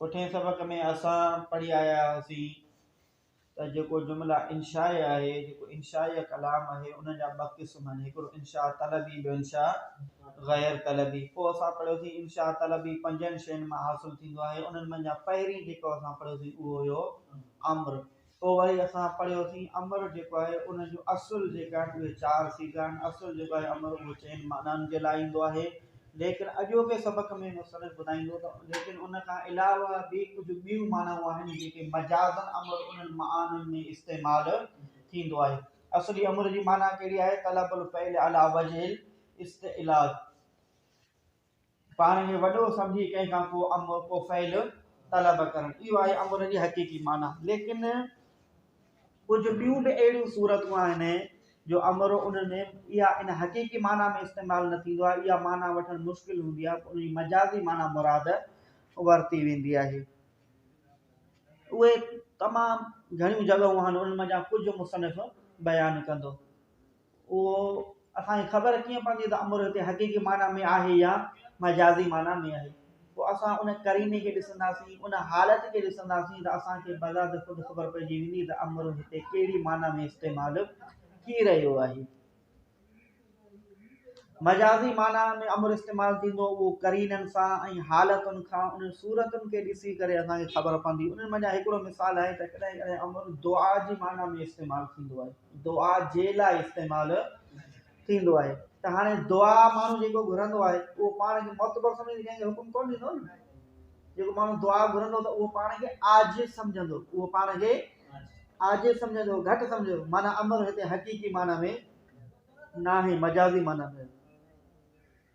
پٺئين سبق ۾ اسان پڙهي آيا هئاسين ته جيڪو جملا انشائي آهي، جيڪو انشائي ڪلام آهي، ان جا ٻه قسم آهن، هڪڙو انشاء طلبي ٻيو انشاء غير طلبي. پوء اسان پڙهيوسين انشاء طلبي پنجن شين مان حاصل ٿيندو آهي، انهن منجهان پهرين جيڪو اسان پڙهيوسين اهو هيو امر. پوء وري اسان پڙهيوسين امر جيڪو آهي ان جون اصل جيڪي آهن اهي چار صيغا آهن اصل جيڪو آهي امر اهو چئن معنائن جي لاء ايندو آهي ليڪن اڄوڪي سبق ۾ مصنف ٻڌائيندو ته ليڪن ان کان علاوه به ڪجهه ٻيون معنائون آهن جيڪي مجازا امر انهن معانن ۾ استعمال ٿيندو آهي اصلي امر جي معنيٰ ڪهڙي آهي طلب الفعل علي وجه الاستعلاء پاڻ کي وڏو سمجهي ڪنهن کان ڪو امر، ڪو فعل طلب ڪرڻ، اهو آهي امر جي حقيقي معنيٰ. ليڪن ڪجهه ٻيون به اهڙيون صورتون آهن جو امر ان ۾ اها ان حقيقي معنيٰ ۾ استعمال نه ٿيندو آهي، اها معنيٰ وٺڻ مشڪل هوندي آهي، ان جي مجازي معنيٰ مراد ورتي ويندي آهي. اهي تمام گهڻيون جڳهون آهن، انهن منجهان ڪجهه مصنف بيان ڪندو. اهو اسان کي خبر ڪيئن پوندي ته امر هتي حقيقي معنيٰ ۾ آهي يا مجازي معنيٰ ۾ آهي؟ پوء اسان ان قريني کي ڏسنداسين، ان حالت کي ڏسنداسين ته اسان کي بذات خود خبر پئجي ويندي ته امر هتي ڪهڙي معنيٰ ۾ استعمال ٿي رهيو آهي. مجازي معنيٰ ۾ امر استعمال ٿيندو اهو قرينن سان ۽ حالتن کان انهن صورتن کي ڏسي ڪري اسان کي خبر پوندي. انهن منجهان هڪڙو مثال آهي ته ڪڏهن ڪڏهن امر دعا جي معنيٰ ۾ استعمال ٿيندو آهي. دعا جي لاء استعمال ٿيندو آهي ته هاڻي دعا ماڻهو جيڪو گهرندو آهي اهو پاڻ کي معتبر سمجهي ڪنهن کي حڪم ڪونه ڏيندو نه جيڪو ماڻهو دعا گهرندو ته اهو پاڻ کي عاجز سمجهندو اهو پاڻ کي عاجز سمجهندو گهٽ سمجهندو معنی امر هتي حقيقي معنی ۾ ناهي مجازي معنی ۾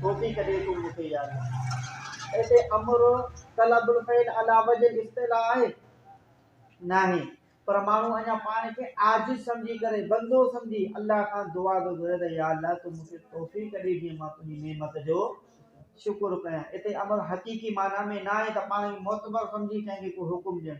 ٿوڪي ڪڏهن تون مون کي ياد نه ڪرين. هتي امر طلب الفعل عليٰ وجه الاصطلاح آهي؟ ناهي، پر ماڻهو اڃا پاڻ کي عاجز سمجهي ڪري، بندو سمجهي، الله کان دعا ٿو گهري ته يا الله تون مون کي توفيق ڏي جيئن مان تنهنجي نعمت جو شڪر ڪيان. هتي امر حقيقي معنيٰ ۾ ناهي ته پاڻ کي معتبر سمجهي ڪنهن کي ڪو حڪم ڏيڻ.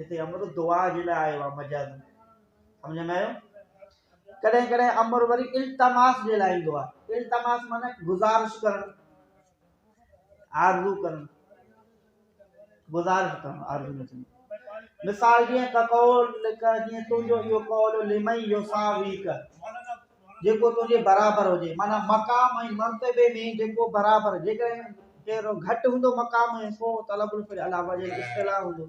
هتي امر دعا جي لاء آيو آهي مجازاً. سمجهه ۾ آيو؟ ڪڏهن ڪڏهن امر وري التماس جي لاء ايندو آهي التماس معنيٰ گذارش ڪرڻ آرزو ڪرڻ گذارش ڪرڻ آرزو نه ٿيندو مثال جيئن ڪقول لک جيئن تنهنجو اهو قول لمئي يوساويڪ جيڪو تنهنجي برابر هجي معنی مقام ۽ مرتبه ۾ جيڪو برابر جيڪڏهن ڪير گهٽ هوندو مقام ۾ پوء طلب الفل علاوه جي اصطلاح هوندو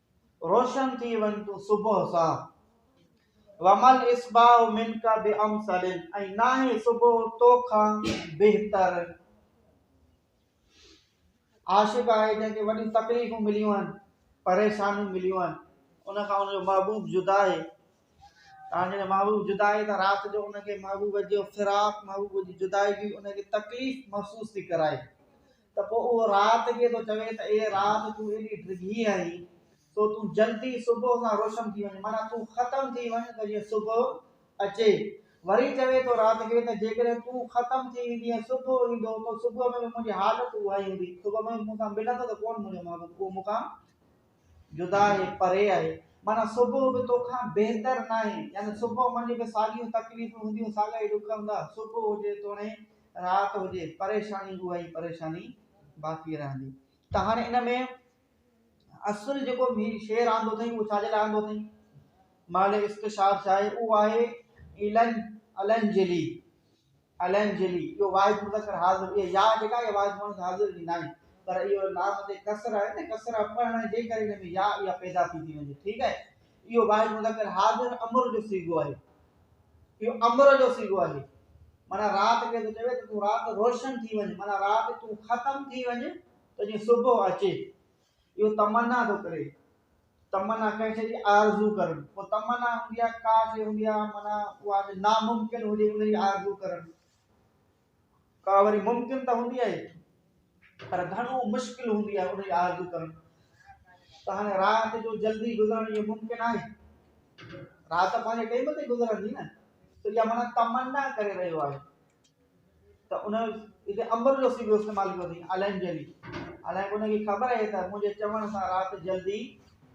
روشن ٿي وڃ تون صبح سان. وما الاصباح منك بامثل ۽ ناهي صبح تو کان بهتر عاشق آهي جنهن کي وڏي تڪليفون مليون آهن پريشانيون مليون آهن ان کان ان جو محبوب جدا آهي تان جڏهن محبوب جدا آهي ته رات جو ان کي محبوب جو فراق محبوب جي جدائي جي ان کي تڪليف محسوس ٿي ڪرائي ته پوء اهو رات ڪي ٿو چوي ته اي رات تون ايڏي ڊگهي آهين سو تون جلدي صبح سان روشن ٿي وڃ معنيٰ تون ختم ٿي وڃ ته جيئن صبح اچي وري چوي ٿو رات کي ته جيڪڏهن تون ختم ٿي ويندي ۽ صبح ايندو ته صبح ۾ به منهنجي حالت اها ئي هوندي صبح ۾ مون سان ملندو ته ڪون منهنجو محبوب اهو مون کان جدا آهي پري آهي معنيٰ صبح به تو کان بهتر ناهي يعني صبح منجهه به ساڳيون تڪليفون هونديون ساڳا ئي ڏک هوندا صبح هجي توڻي رات هجي پريشاني اها ئي پريشاني باقي رهندي ته هاڻي ان ۾ اصل جيڪو هي شعر آندو اٿئي اهو ڇاجي لاء آندو اٿئي مال عشق شاد شاهي اهو آهي الن الن جلي الن جلي اهو واحد مذڪر حاضر اهي يا جيڪا اهي واحد مذڪر حاضر ڏيندا آهن پر اهو لام تي ڪسر آهي نه ڪسر پڙهڻ جي ڪري ان ۾ يا اها پيدا ٿي ٿي وڃي ٺيڪ آهي اهو واحد مذڪر حاضر امر جو صيغو آهي اهو امر جو صيغو آهي معنيٰ رات کي ٿو چوي ته تون رات روشن ٿي وڃ معنيٰ رات تون ختم ٿي وڃ ته جيئن صبح اچي اهو تمنا ٿو ڪري تمنا ڪنهن شي جي آرزو ڪرڻ پوء تمنا هوندي آهي ڪا شي هوندي آهي معنيٰ اها ناممڪن هجي ان جي آرزو ڪرڻ ڪا وري ممڪن ته هوندي آهي پر گهڻو مشڪل هوندي آهي ان جي آرزو ڪرڻ ته هاڻي رات جو جلدي گذرڻ اهو ممڪن آهي رات پنهنجي ٽيم تي گذرندي نه ته اها مانا تمنا ڪري رهيو آهي ته ان هتي امر جو سيدو استعمال ڪيو اٿي الائن جلي الائن ان کي خبر آهي ته منهنجي چوڻ سان رات جلدي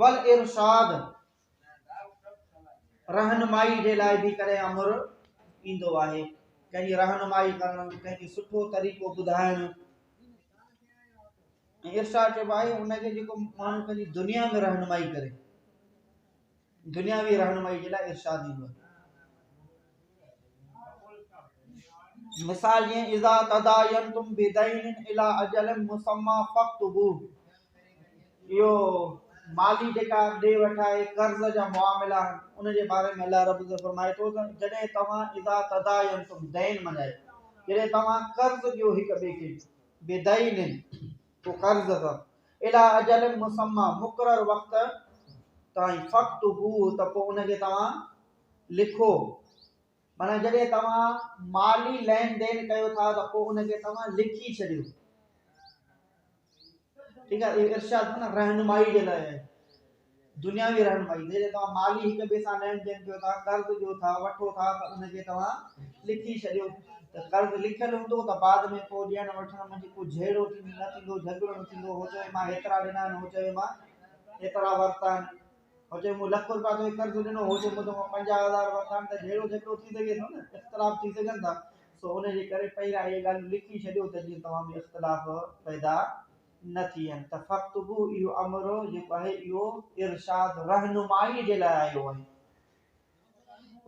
والارشاد، رهنمائي جي لاء به ڪڏهن امر ايندو آهي ڪنهن جي رهنمائي ڪرڻ ڪنهن کي سٺو طريقو ٻڌائڻ ارشاد چئبو آهي ان کي جيڪو ماڻهو پنهنجي دنيا ۾ رهنمائي ڪري دنياوي رهنمائي جي لاء ارشاد ايندو آهي. مثال جيئن اذا تداينتم بدين الى اجل مسمى فاكتبوه اهو مالي جيڪا ڏي وٺ آهي قرض جا معاملا ان جي باري ۾ الله رب العزت فرمائي ٿو ته جڏهن توهان اذا تداينتم دين منائي جڏهن توهان قرض ڏيو هڪ ٻئي کي بدين تو قرض ته، اليٰ اجل مسمّى، مقرر وقت تائين، فاڪتبوه، ته پوء ان کي توهان لکو. معنيٰ جڏهن توهان مالي لين دين ڪيو ٿا ته پوء ان کي توهان لکي ڇڏيو. ٺيڪ آهي، اهو ارشاد معنيٰ رهنمائي جي لاء آهي. دنياوي رهنمائي جي لاء توهان مالي هڪ ٻئي سان لهڻ ڏين ڪيو ٿا، قرض ڏيو ٿا، وٺو ٿا ته ان کي توهان لکي ڇڏيو ته قرض لکيل هوندو ته بعد ۾ پوء ڏيڻ وٺڻ منجهه ڪو جهيڙو نه ٿيندو، جهڳڙو نه ٿيندو، هو چوي مان هيترا ڏنا آهن، هو چوي مان هيترا ورتا آهن، هو چوي مون لک روپيا توکي قرض ڏنو، هو چوي مون توکان پنجاهه هزار ورتا آهن ته جهيڙو جهڳڙو ٿي سگهي ٿو نه، اختلاف ٿي سگهن ٿا، سو ان جي ڪري پهريان اهي ڳالهيون لکي ڇڏيو ته جيئن توهان ۾ اختلاف پيدا نه ٿين ته فاڪتبو اهو امر هو جيڪو آهي اهو ارشاد رهنمائي جي لاء آيو آهي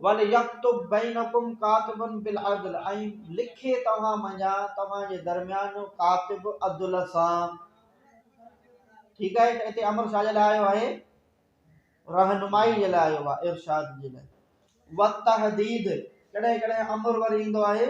وليڪتب بينکم ڪاتب بالعدل ۽ لکي توهان منجان توهان جي درميان ڪاتب عدل سان ٺيڪ آهي ته هتي امر شاهه جي لاء آيو آهي رهنمائي جي لاء آيو آهي ارشاد جي لاء وتحديد ڪڏهن ڪڏهن امر وري ايندو آهي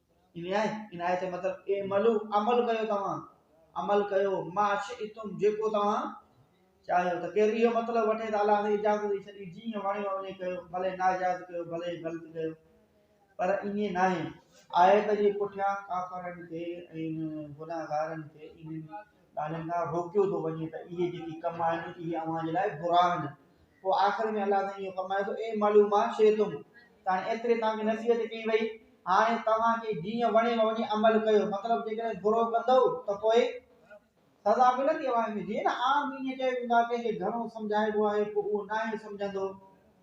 عنايت جو مطلب اعملو عمل ڪيو توهان عمل ڪيو ما شئتم جيڪو توهان چاهيو ته ڪير اهو مطلب وٺي ته الله سائين اجازت ڏئي ڇڏي جيئن وڻيو وڃي ڪيو ڀلي ناجائز ڪيو ڀلي غلط ڪيو پر ائين ناهي آيت جي پٺيان ڪافرن کي ۽ گناهگارن کي ڳالهين کان روڪيو ٿو وڃي ته اهي جيڪي ڪم آهن اهي اوهان جي لاء برا آهن پوء آخر ۾ الله سائين اهو فرمائي ٿو اي مالو ما شئتم تاڻي ايتري توهان کي نصيحت ڪئي وئي هاڻي توهان کي جيئن وڻي ۾ وڃي عمل ڪيو مطلب جيڪڏهن برو ڪندو ته پوء سزا ملندي اوهان کي جيئن عام دنيا چئي ويندو آهي ڪنهن کي گهڻو سمجهائبو آهي پوء اهو ناهي سمجهندو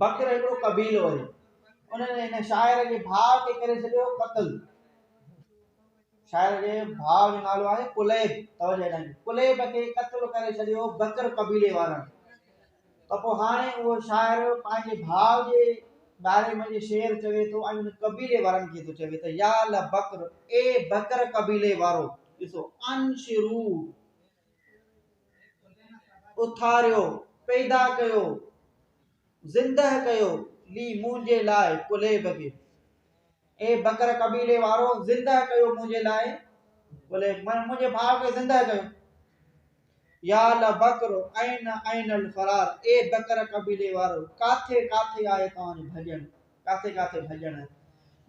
بکر هڪڙو قبيلو هو. انهن هن شاعر جي ڀاء کي ڪري ڇڏيو قتل. شاعر جي ڀاء جو نالو آهي قليب توجه ڏيڻ قليب کي قتل ڪري ڇڏيو بکر قبيلي وارن ته پوء هاڻي اهو شاعر پنهنجي ڀاء جي باري ۾ شعر چوي ٿو ۽ ان قبيلي وارن کي ٿو چوي ته يا لبکر اي بکر قبيلي وارو ڏسو انشرو اٿاريو، پيدا ڪيو، زندهه ڪيو، لي منهنجي لاء ڪلهي بگي. اي بڪر قبيلي وارو زندهه ڪيو منهنجي لاء ڪلهي منهنجي ڀاء کي زندهه ڪيو يا لبکر عين عين الفرار اي بکر قبيلي وارو ڪاٿي ڪاٿي آهي توهان جو ڀڄڻ ڪاٿي ڪاٿي ڀڄڻ.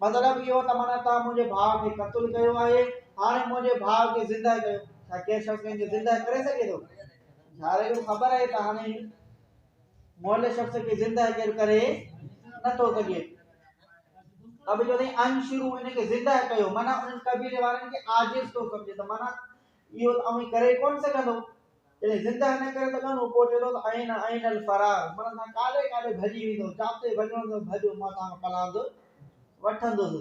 مطلب اهو ته معنيٰ توهان منهنجي ڀاء کي قتل ڪيو آهي، هاڻي منهنجي ڀاء کي زندهه ڪيو. ڇا ڪير شخص ڪنهن کي زندهه ڪري سگهي ٿو؟ ڌارئي کي خبر آهي ته هاڻي موئل شخص کي زندهه ڪير ڪري نٿو سگهي. ته به چوندي انشرو ان کي زندهه ڪيو معنيٰ انهن قبيلي وارن کي عاجز ٿو سمجهي ته معنيٰ اهو ته اوهين ڪري ڪونه سگهندؤ. جڏهن زندهه نه ڪري سگهندؤ، پوء چئي ٿو ته ائين ائين الفرار، مڙن سان ڪاڏي ڪاڏي ڀڄي ويندؤ، جاتي ڀڄڻو اٿئي ڀڄ، مان توهان کان پلاند وٺندس.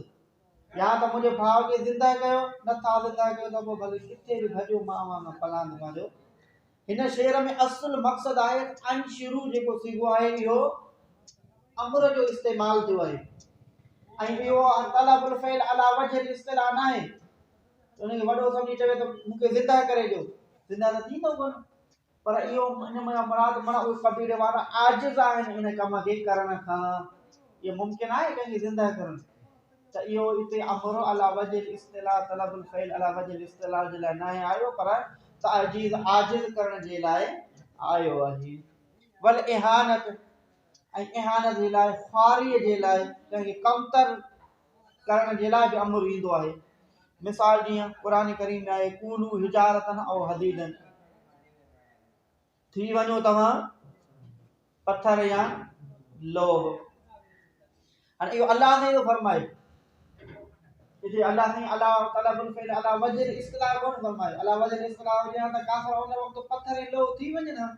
يا ته منهنجي ڀاء کي زندهه ڪيو، نه ٿا زندهه ڪيو ته پوء ڀلي ڪٿي به ڀڄو، مان اوهان کان پلاند پنهنجو. هن شعر ۾ اصل مقصد آهي ته ان شروع جيڪو صيغو آهي، اهو امر جو استعمال ٿيو آهي ۽ اهو طلب الفعل عليٰ وجه الاصطلاح ناهي. انهن کي وڏو سمجهي چوي ته مون کي زنده ڪري ڏيو زنده ته ٿيندو ڪونه پر اهو ان منا مراد منا اهي قبيلي وارا عاجز آهن ان ڪم کي ڪرڻ کان اهو ممڪن آهي ڪنهن کي زنده ڪرڻ ته اهو هتي امر علا وجه الاصطلاح طلب الفعل علا وجه الاصطلاح جي لاء ناهي آيو پر تعجيز عاجز ڪرڻ جي لاء آيو آهي ول اهانت ۽ اهانت جي لاء خواري جي لاء ڪنهن کي کمتر ڪرڻ جي لاء به امر ايندو آهي مثال جيئن قرآن ڪريم ۾ آهي ڪونو حجارتن او حديدن ٿي وڃو توهان پٿر يا لوه هاڻي اهو الله سائين ٿو فرمائي جي الله سائين الله تعالی بن فعل الله وجر اصطلاح ڪون فرمائي الله وجر اصطلاح هجي ها ته کافر ان وقت پٿر ۽ لوه ٿي وڃن ها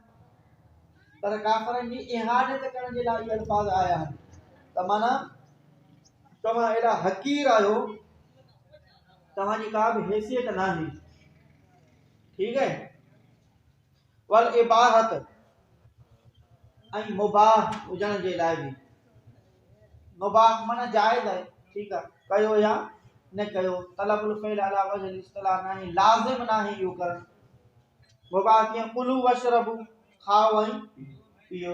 پر کافرن جي اهانت ڪرڻ جي لاء اهي الفاظ آيا آهن ته معنی توهان ايڏا حقير آهيو توهان جي ڪا به حيثيت ناهي ٺيڪ آهي ول اباحت ۽ مباح هجڻ جي لاء به مباح معنی جائز آهي ٺيڪ آهي ڪيو يا نه ڪيو طلب الفعل علا وجه الاصطلاح ناهي لازم ناهي اهو ڪرڻ مباح ڪيئن قلو وشربو کائو ۽ پيو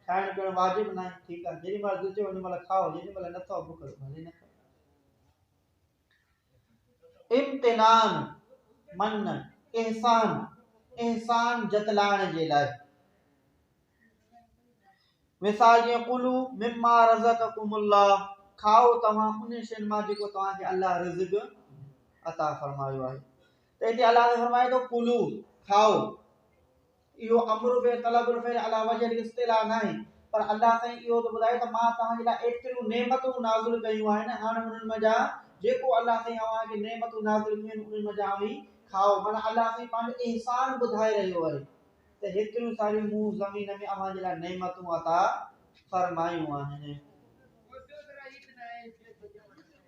کائڻ پيئڻ واجب ناهي، ٺيڪ آهي، جيڏي مهل دل چيو ان مهل کائو، جيڏي مهل نه ٿئو بک لڳي ڀلي نه کائو. امتنان، منّ، احسان، احسان جتلائڻ جي لاء. مثال جيئن قلو مما رزقكم الله کائو توهان ان شين مان جيڪو توهان کي الله رزق عطا فرمايو آهي ته هتي الله تعاليٰ فرمائي ٿو قلو کائو اهو امر به طلب الفعل علي وجه الاصطلاح ناهي، پر الله سائين اهو ته ٻڌائي ته مان توهان جي لاء ايتريون نعمتون نازل ڪيون آهن، هاڻ انهن منجهان جيڪو الله سائين اوهان کي نعمتون نازل ڪيون آهن، انهن منجهان اوهين کائو. معنيٰ الله سائين پنهنجو احسان ٻڌائي رهيو آهي ته هيتريون ساريون مون زمين ۾ اوهان جي لاء نعمتون عطا فرمايون آهن.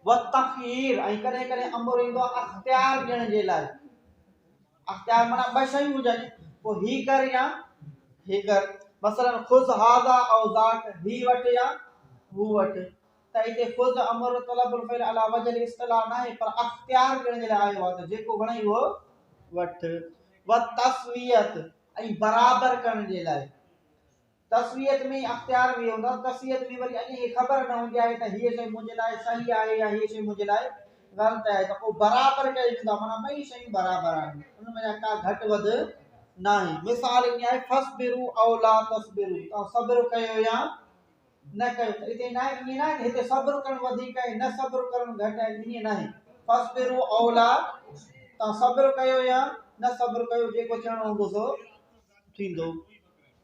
والتخيير ۽ ڪڏهن ڪڏهن امر ايندو آهي اختيار ڏيڻ جي لاء. اختيار معنيٰ ٻه شيون هجن، پوء هي ڪر يا هي ڪر، مثلاً خذ هذا او ذاڪ، هي وٺ يا هو وٺ، ته هتي خذ امر طلب الفعل عليٰ وجه الاصطلاح ناهي پر اختيار ڏيڻ جي لاء آيو آهي ته جيڪو وڻئي اهو وٺ. والتسوية ۽ برابر ڪرڻ جي لاء. تسويت ۾ اختيار به هوندو آهي، تسويت ۾ وري اڄ هي خبر نه هوندي آهي ته هيء شيء منهنجي لاء صحيح آهي يا هيء شيء منهنجي لاء غلط آهي ته پوء برابر ڪيو ويندو آهي معنيٰ ٻئي شيون برابر آهن ان ۾ ڪا گهٽ وڌ ناهي مثال ائين آهي فصبرو او لا تصبرو توهان صبر ڪيو يا نه ڪيو ته هتي ناهي ائين ناهي ته هتي صبر ڪرڻ وڌيڪ آهي نه صبر ڪرڻ گهٽ آهي ائين ناهي فصبرو او لا توهان صبر ڪيو يا نه صبر ڪيو جيڪو چئڻو هوندو سو ٿيندو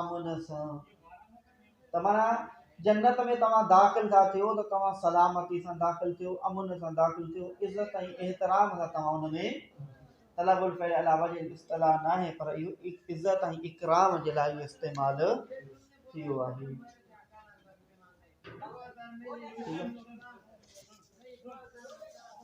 امن سان ته معنيٰ جنت ۾ توهان داخل ٿا ٿيو ته توهان سلامتي سان داخل ٿيو امن سان داخل ٿيو عزت ۽ احترام سان توهان ان ۾ طلب الفعل على وجه الاصطلاح ناهي پر اهو عزت ۽ اڪرام جي لاء اهو استعمال ٿيو آهي